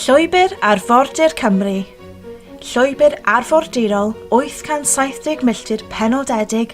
Llwybr Arfordir Cymru Llwybr arfordirol 870 milltir penodedig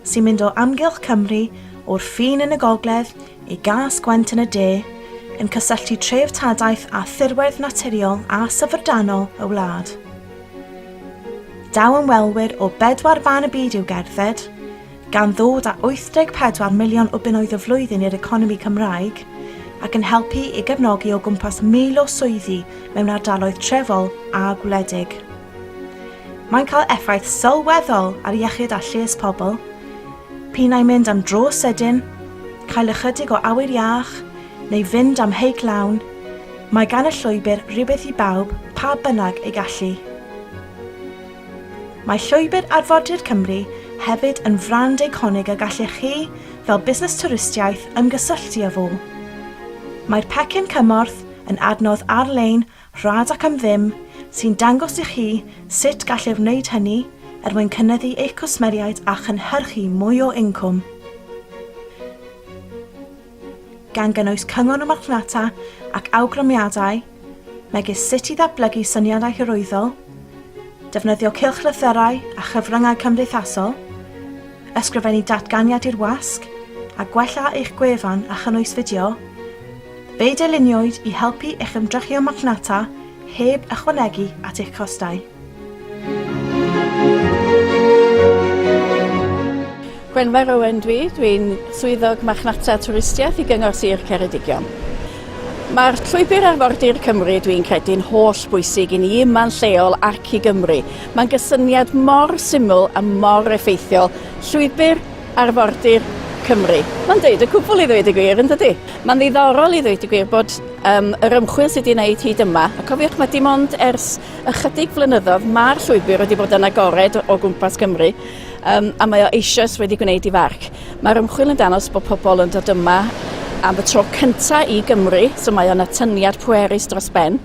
sy'n mynd o amgylch Cymru o'r ffin yn y gogledd i gas Gwent yn y de, yn cysylltu treftadaeth a thirwedd naturiol a syfrdanol y wlad. Daw ymwelwyr o bedwar fan y byd i'w gerdded, gan ddod â 84 miliwn o bunnoedd y flwyddyn i'r economi Cymraeg, ac yn helpu i gefnogi o gwmpas 1,000 o swyddi mewn ardaloedd trefol a gwledig. Mae'n cael effaith sylweddol ar iechyd a lles pobl, pinau mynd am dro sydyn, cael ychydig o awyr iach, neu fynd am heic lawn, mae gan y llwybr rywbeth i bawb pa bynnag ei gallu. Mae Llwybr Arfordir Cymru hefyd yn frand eiconig y gallech chi, fel busnes twristiaeth, ymgysylltu â fo. Mae'r pecyn cymorth yn adnodd ar-lein rhad ac am ddim sy'n dangos i chi sut gallai wneud hynny er mwyn cynyddu eich cwsmeriaid a chynhyrchu mwy o incwm. gan gynnwys cyngor y marchnata ac awgrymiadau, megis sut i ddatblygu syniadau hyrwyddol, defnyddio cylchlythyrau a chyfryngau cymdeithasol, ysgrifennu datganiad i'r wasg, a gwella eich gwefan a chynnwys fideo, fe'i dyluniwyd i helpu eich ymdrechion marchnata heb ychwanegu at eich costau. Gwenfair Owen dwi, dwi'n swyddog marchnata twristiaeth i Gyngor Sir Ceredigion. Mae'r llwybr arfordir Cymru dwi'n credu'n holl bwysig i ni yma'n lleol ac i Gymru. Mae'n gysyniad mor syml a mor effeithiol. Llwybr arfordir Cymru. Mae'n dweud y cwbl i ddweud y gwir, yn dydy? Mae'n ddiddorol i ddweud y gwir bod um, yr ymchwil sydd wedi wneud hyd yma, a cofiwch mae dim ond ers Ychydig flynyddoedd mae'r llwybr wedi bod yn agored o gwmpas Cymru um, a mae o eisoes wedi gwneud i farc. Mae'r ymchwil yn danos bod pobl yn dod yma am y tro cyntaf i Gymru, so mae o'n atyniad pwerus dros ben,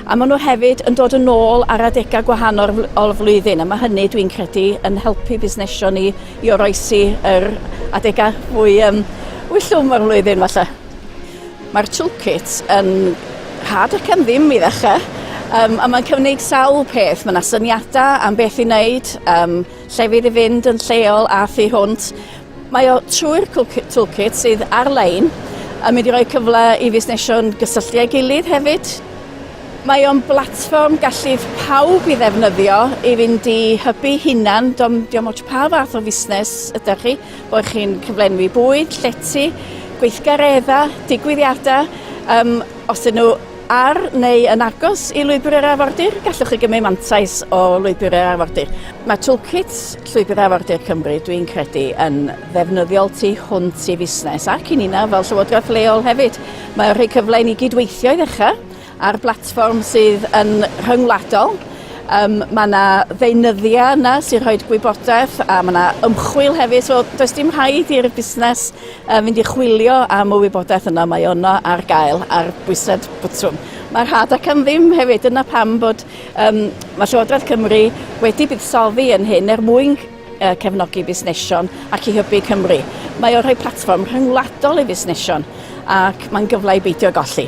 a maen nhw hefyd yn dod yn ôl ar adegau gwahanol o'r flwyddyn, a mae hynny dwi'n credu yn helpu busnesio ni i oroesi yr adegau fwy um, wyllwm o'r flwyddyn falle. Mae'r toolkit yn rhad ac am ddim i ddechrau, um, a mae'n cynnig sawl peth. Mae yna syniadau am beth i wneud, um, llefydd i fynd yn lleol a thu hwnt. Mae o trwy'r toolkit sydd ar-lein a mynd i roi cyfle i fusnesion gysylltu â'i gilydd hefyd. Mae o'n blatfform gallith pawb i ddefnyddio i fynd i hybu hunan, diom ots pa fath o fusnes ydych chi, bod chi'n cyflenwi bwyd, llety, gweithgareddau, digwyddiadau. Um, os ydyn nhw ar neu yn agos i lwybr yr arfordir, gallwch chi gymryd mantais o lwybr yr arfordir. Mae toolkit Llwybr Arfordir Cymru, dwi'n credu, yn ddefnyddiol tu hwnt i fusnes ac i nina fel llywodraeth leol hefyd. Mae'n rhoi cyfle i ni gydweithio i ddechrau, Ar blatfform sydd yn rhyngwladol, yym ma' 'na ddeunyddia yna sy'n rhoid gwybodaeth a ma' 'na ymchwil hefyd so does dim rhaid i'r busnes yy fynd i chwilio am y wybodaeth yna mae o yno ar gael ar bwysedd botwm. Mae rhad ac am ddim hefyd dyna pam bod yym ma' Llywodraeth Cymru wedi buddsoddi yn hyn er mwyn cefnogi busnesion ac i hybu Cymru. Mae o rhoi platfform rhyngwladol i fusnesion ac mae'n gyfle i beidio golli.